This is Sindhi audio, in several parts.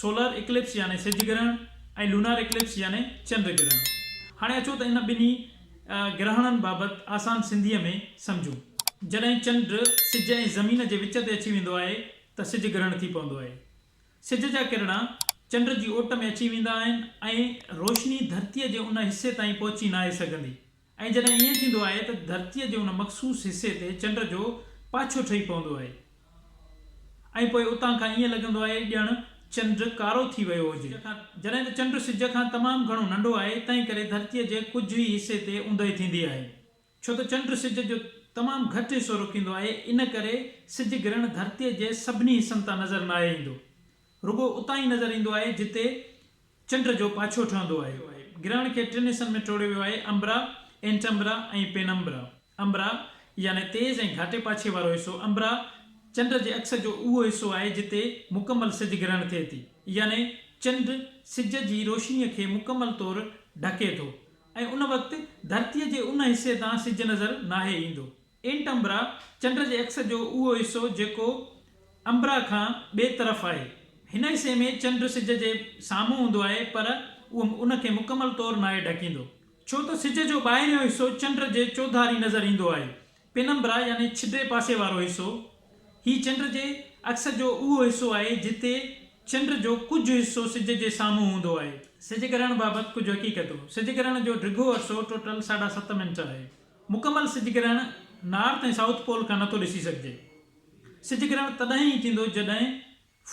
سولر اڪلپس يعني سج گرهڻ ۽ لونار اڪلپس يعني چنڊ گرهڻ. هاڻي اچو ته ان ٻنهي گرهڻن بابت آسان سنڌيء ۾ سمجهون. جڏهن چنڊ سج ۽ زمين جي وچ تي اچي ويندو آهي ته سج گرهڻ ٿي پوندو آهي. سج جا ڪرڻا چنڊ جي اوٽ ۾ اچي ويندا آهن ۽ روشني ڌرتيء جي ان حصي تائين پهچي ناهي سگهندي. ۽ جڏهن ائين ٿيندو آهي ته ڌرتيء جي ان مخصوص حصي تي چنڊ جو پاڇو ٺهي پوندو آهي ۽ پوء اتان کان ائين لڳندو آهي ڄڻ چنڊ ڪارو ٿي ويو هجي. جڏهن ته چنڊ سج کان تمام گهڻو ننڍو آهي، تنهن ڪري ڌرتيء جي ڪجهه ئي حصي تي اوندهه ٿيندي آهي. ڇو ته چنڊ سج جو تمام گهٽ حصو روڪيندو آهي، ان ڪري سج گرهڻ ڌرتيء جي سڀني حصن تان نظر ناهي ايندو، رڳو اتان ئي نظر ايندو آهي جتي چنڊ جو پاڇو ٺهندو آهي. گرهڻ کي ٽن حصن ۾ ٽوڙيو ويو آهي، امبرا، انٽمبرا ۽ پينمبرا. امبرا يعني تيز ۽ گهاٽي پاڇي وارو حصو، امبرا، چنڊ جي عڪس جو اهو حصو آهي جتي مڪمل سج گرهڻ ٿئي ٿي. يعني چنڊ سج جي روشنيء کي مڪمل طور ڍڪي ٿو ۽ ان وقت ڌرتيء جي ان حصي تان سج نظر ناهي ايندو. انٽ امبرا، چنڊ جي اڪس جو اهو حصو جيڪو امبرا کان ٻئي طرف آهي. هن حصي ۾ چنڊ سج جي سامهون هوندو آهي پر اهو ان کي مڪمل طور ناهي ڍڪيندو. ڇو ته سج جو ٻاهريون حصو چنڊ جي چوڌاري نظر ايندو آهي. پينمبرا يعني ڇڊي پاسي وارو حصو، هي چنڊ جي اڪس جو اهو حصو آهي جتي چنڊ جو ڪجهه حصو سج جي سامهون هوندو آهي. سج گرهڻ بابت ڪجهه حقيقتون، سج گرهڻ جو ڊگهو عرصو ٽوٽل ساڍا ست منٽ آهي. مڪمل سج گرهڻ نارٿ ۽ سائوٿ پول کان نٿو ڏسي سگهجي. سج گرهڻ تڏهن ئي ٿيندو جڏهن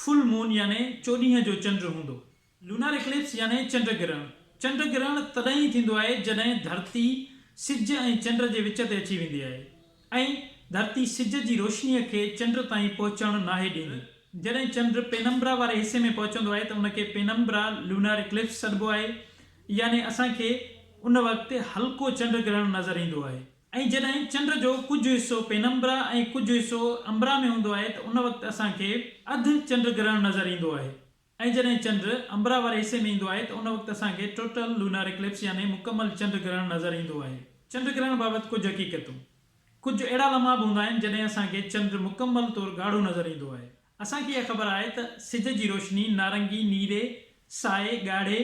فل مون يعني چوڏينهن جو چنڊ هوندو. لونار اڪلپس يعني چنڊ گرهڻ، چنڊ گرهڻ تڏهن ئي ٿيندو آهي جڏهن ڌرتي سج ۽ چنڊ جي وچ تي اچي ويندي آهي ۽ ڌرتي سج جي روشنيء کي چنڊ تائين پهچڻ ناهي ڏيندي. جڏهن چنڊ پينمبرا واري حصي ۾ پهچندو آهي ته ان کي پينمبرا لونار اڪلپس سڏبو آهي يعني اسان کي ان وقت هلڪو چنڊ گرهڻ نظر ايندو آهي ۽ جڏهن چنڊ جو ڪجهه حصو پينمبرا ۽ ڪجهه حصو امبرا ۾ هوندو آهي ته ان وقت اسان کي اڌ چنڊ گرهڻ نظر ايندو آهي ۽ جڏهن چنڊ امبرا واري حصي ۾ ايندو آهي ته ان وقت اسان کي Total Lunar Eclipse يعني مڪمل چنڊ گرهڻ نظر ايندو آهي. چنڊ گرهڻ بابت ڪجهه حقيقتون، ڪجهه اهڙا لمحا به هوندا آهن جڏهن اسان کي چنڊ مڪمل طور ڳاڙهو نظر ايندو آهي. اسان کي اها خبر آهي ته سج جي روشني نارنگي، نيري، سائي، ڳاڙهي،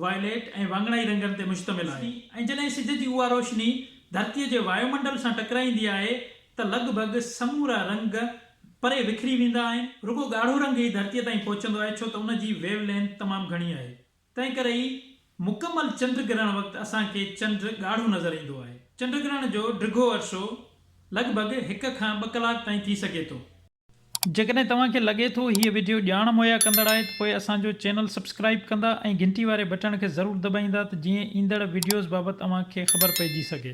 Violet، ۽ واڱڻائي رنگن تي مشتمل آهي ۽ جڏهن سج جي اها روشني ڌرتيء جي وايو منڊل سان ٽڪرائيندي آهي ته لڳ ڀڳ سمورا رنگ پري وکري ويندا آهن. رڳو ڳاڙهو رنگ ئي ڌرتيء تائين پهچندو آهي ڇو ته ان جي ويو لينٿ تمام گهڻي آهي. تنهن ڪري ئي مڪمل چنڊ گرهڻ وقت اسان کي چنڊ ڳاڙهو نظر ايندو آهي. چنڊ گرهڻ جو ڊگهو عرصو لڳ ڀڳ هڪ کان ٻه ڪلاڪ تائين ٿي سگهي ٿو. جيڪڏهن توهان کي لڳي ٿو هيء وڊيو ڄاڻ مهيا ڪندڙ آهي ته پوء اسان جو چينل سبسڪرائيب ڪندا ۽ گهنٽي واري بٽڻ کي ضرور دٻائيندا ته جيئن ايندڙ وڊيوز بابت اوهان کي خبر پئجي سگهي.